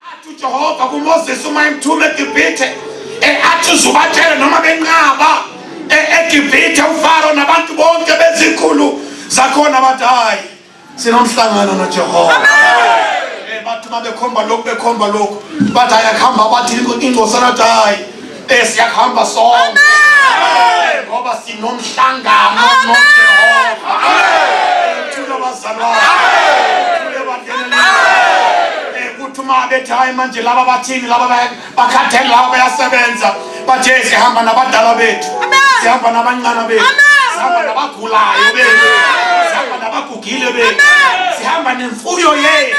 Athi uJehova kuMoses uma emthuma eGibhithe eh, athi uzubatshela noma benqaba eh, eGibhithe uFaro nabantu bonke bezikhulu zakhona bathi hayi sinomhlangano noJehova. Eh, bathi uma bekhomba lokhu bekhomba lokhu bathi ayakuhamba bathi ingosana athi hayi Besiyakuhamba sonke ngoba sinomhlangano noJehova. Thula bazalwane. Thule bangenele. Ukuthi uma bethi hayi manje laba bathini laba bakhathele laba bayasebenza bathe sihamba nabadala bethu sihamba nabancane bethu sihamba nabagulayo bethu sihamba nabagugile bethu sihamba nemfuyo yethu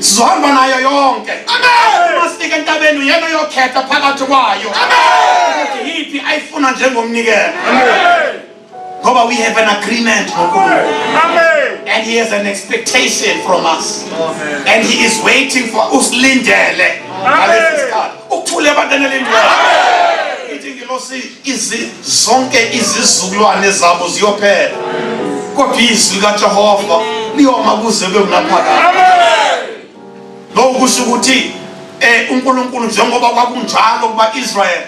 sizohamba nayo yonke uma sifika entabeni uyena oyokhetha phakathi kwayo ukuthi yiphi ayifuna njengomnikelo ngoba we have an agreement nonkulunkulu and he has an expectation from us and he is waiting for usilindele ngalesi sikhathi Ukuthule abantwana lendlela. Ithi ingelosi izi zonke izizukulwane zabo ziyophela. Kodwa izwi kaJehova liyoma kuze kube ngunaphakade. Amen. Lokhu kusho ukuthi eh uNkulunkulu njengoba kwakunjalo kuba Israel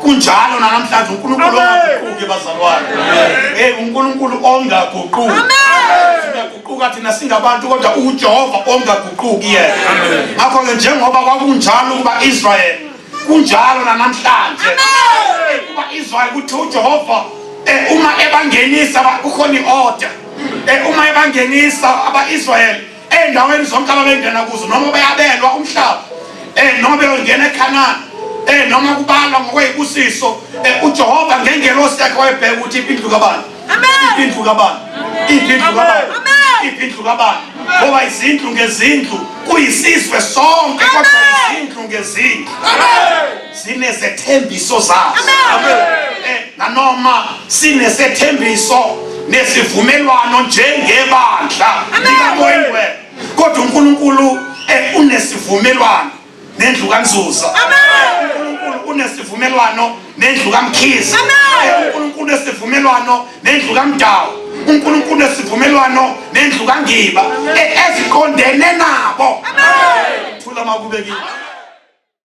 kunjalo nanamhlanje uNkulunkulu ongaguquki bazalwane. Eh uNkulunkulu ongaguquki. Amen. uguquka thina singabantu kodwa uJehova ongaguquki yena ngakho ke njengoba kwakunjalo kuba Israel kunjalo namhlanje kuba Israel kuthi uJehova eh, uma ebangenisa kukhona iorder eh, uma ebangenisa abaIsrael endaweni zonke ababengena kuzo noma beyabelwa umhlaba eh, noma beyongena eKhanani noma kubalwa ngokweyibusiso uJehova ngengelosi yakhe wayebheka ukuthi impindlu kabani Indlu kabani? Indlu kabani? Indlu kabani? Ngoba izindlu ngezindlu kuyisizwe sonke kodwa izindlu ngezindlu zinezethembiso zazo. Eh, nanoma sinesethembiso nesivumelwano njengebandla likamoyingwena kodwa uNkulunkulu eh, unesivumelwano nendlu kanzuzo unkulunkulu unesivumelwano nendlu kamkhizi unkulunkulu unesivumelwano nendlu kamdawu unkulunkulu unesivumelwano nendlu kangiba e, eziqondene nabo thula makube kini